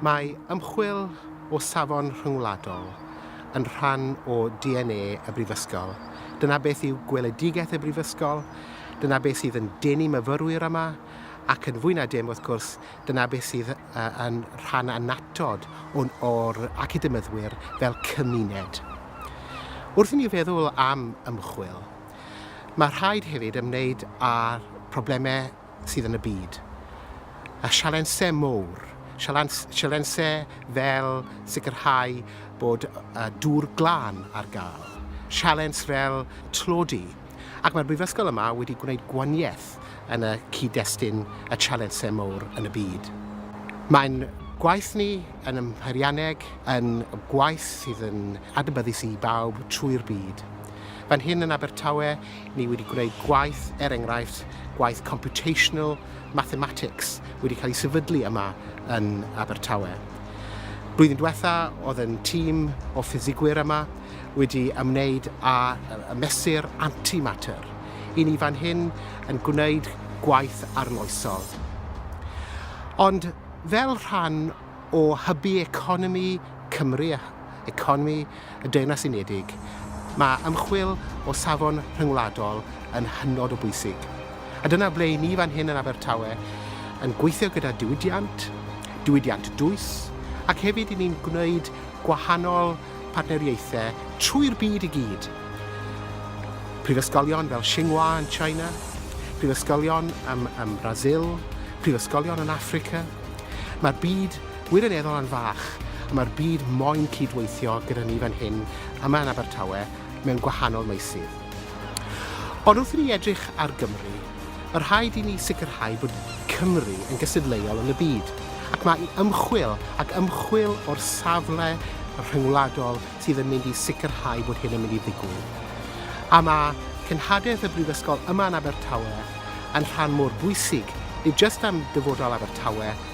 Mae ymchwil o safon rhyngwladol yn rhan o DNA y Brifysgol. Dyna beth yw gweledigaeth y Brifysgol, dyna beth sydd yn denu myfyrwyr yma, ac yn fwy na dim, wrth gwrs, dyna beth sydd yn rhan annatod o'n o'r academyddwyr fel cymuned. Wrth i ni feddwl am ymchwil, mae rhaid hefyd ymwneud â'r problemau sydd yn y byd. A sialensau mowr, sialensau fel sicrhau bod dŵr glân ar gael, sialens fel tlodi, Ac mae'r brifysgol yma wedi gwneud gwaniaeth yn y cyd-destun y Challensau Mowr yn y byd. Mae'n gwaith ni yn ym Mheirianneg yn gwaith sydd yn adnabyddus i bawb trwy'r byd. Fan hyn yn Abertawe, ni wedi gwneud gwaith, er enghraifft, gwaith computational mathematics wedi cael ei sefydlu yma yn Abertawe. Blwyddyn diwetha, oedd yn tîm o ffisigwyr yma, wedi ymwneud â mesur antimatter. I ni fan hyn yn gwneud gwaith arloesol. Ond fel rhan o hybu economi Cymru a economi y Deyrnas Unedig, mae ymchwil o safon rhyngwladol yn hynod o bwysig. A dyna ble i ni fan hyn yn Abertawe yn gweithio gyda diwydiant, diwydiant dwys, ac hefyd i ni'n gwneud gwahanol partneriaethau trwy'r byd i gyd. Prifysgolion fel Tsinghua yn China, prifysgolion ym, ym Brasil, prifysgolion yn Affrica. Mae'r byd wirioneddol yn fach, a mae'r byd moyn cydweithio gyda ni fan hyn, yma yn Abertawe, mewn gwahanol meysydd. Ond wrth i ni edrych ar Gymru, Mae rhaid i ni sicrhau bod Cymru yn gystadleuol yn y byd, ac mae ymchwil ac ymchwil o'r safle rhyngwladol sydd yn mynd i sicrhau bod hyn yn mynd i ddigwydd. A mae cenhadaeth y Brifysgol yma yn Abertawe yn rhan mor bwysig, nid jyst am dyfodol Abertawe,